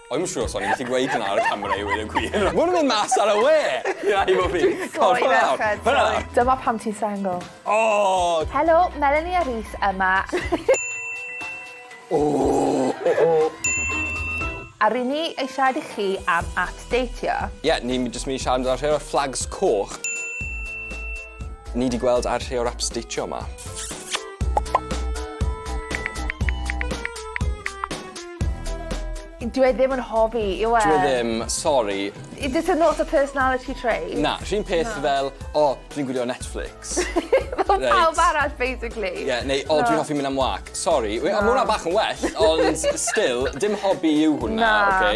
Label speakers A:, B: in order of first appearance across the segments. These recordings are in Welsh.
A: O'n i'm siŵr os o'n i'n gallu gweud hwnna ar y camera i weud y gwir. Maen nhw'n mynd mas ar y we! Ia, i fod fi. Cod hwnna lawr. Hwnna
B: lawr. Dyma pam ti'n single. O!
A: Helo, Melanie
B: a Rhys yma. O! O! A ry'n ni eisiau siarad i chi am at deitio. Ie, ni jyst
A: mynd i siarad amdano rhai o'r flags coch ni wedi gweld ar rhai o'r apps deitio yma.
B: Dyw e ddim yn hobi yw e? Dyw e ddim,
A: sori. Is this a not a
B: personality trait? Na, yr un peth
A: fel, o, dwi'n gwylio Netflix. Fel pawb
B: arall basically. Ie, neu o, dwi'n hoffi
A: mynd am wâc. Sori, we- ma' hwnna bach yn well, ond still, dim hobi yw hwnna, oce?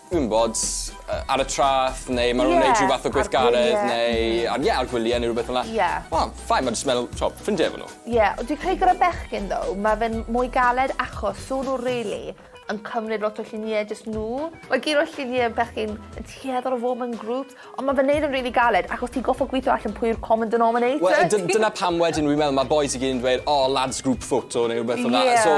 A: Dwi'm bod, ar y traeth neu ma' nw'n neud rhyw fath o gweithgaredd neu ar ie ar gwylie ne' rwbeth fel 'na. Ie. Wel fine ma' jyst meddwl t'o' ffrindie efo n'w. Ie ond dwi credu gyda
B: bechgyn though ma' fe'n mwy galed achos so' n'w rili yn cymryd lot o llunie jyst n'w. Mae gyd o'r llunie bechgyn yn tueddol o fod mewn grŵps. Ond ma fe'n neud yn rili galed achos ti'n goffod gwitho allan pwy yw'r common denominator. Wel dy- dyna pam
A: wedyn fi'n meddwl ma bois i gyd yn dweud o lads group photo neu rwbeth fel 'na. Ie. So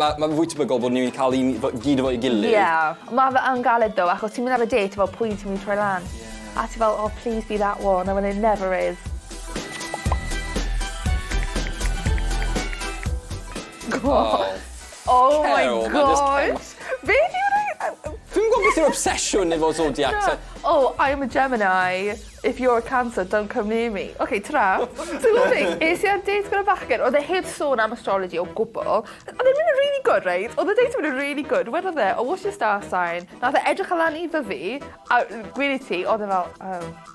A: ma' ma' fwy tebygol bod ni'n ca'l un fo- gyd efo'i gilydd. Ie. Ma fe yn
B: galed though achos ti'n mynd ar y date a fel pwy ti'n myn' i troi lan? Ie. A ti fel oh please be that one a when it never is. Go on. O. Oh my gosh! Be di'r rei- yy yy... Dwi'm
A: yn gwbo beth yw obsesiwn efo zodiac te. Oh I am a
B: Gemini if you're a cancer don't come near me. Ok tara. Ti'n gwbo be? Es i ar dêt gyda bachgen o'dd e heb sôn am astrology o gwbwl. O'dd e'n myn' yn rili good reit o'dd y dêt yn myn' yn rili good wedodd e oh what's your star sign? Nath e edrych lan i Ddyfi a gweud i ti o'dd e fel oh.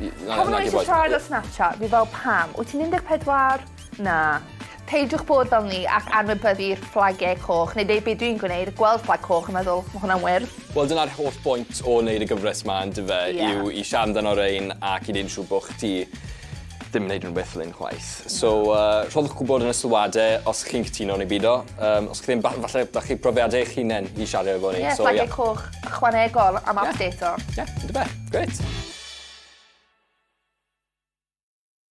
A: Pam mae eisiau
B: siarad ar Snapchat? Fi fel, pam? Wyt ti'n 14? Na. Peidiwch bod fel ni ac anwybyddu'r fflagiau coch, neu dweud be dwi'n gwneud, gweld fflag coch a meddwl, mae hwnna'n wyrdd. Wel dyna'r holl bwynt o wneud y gyfres ma yndyfe, yw i siarad amdano rein ac i wneud yn siŵr bod chdi ddim yn neud unrhyw beth fel hyn chwaith. So uh, rhoddwch gwybod yn y sylwadau os chi'n cytuno neu bido. Um, os chi ddim, falle da chi profiadau eich hunain i siarad efo ni. Ie, so, fflagiau yeah. coch. ychwanegol am update o. Ie, ie, yn dy beth. Grêt.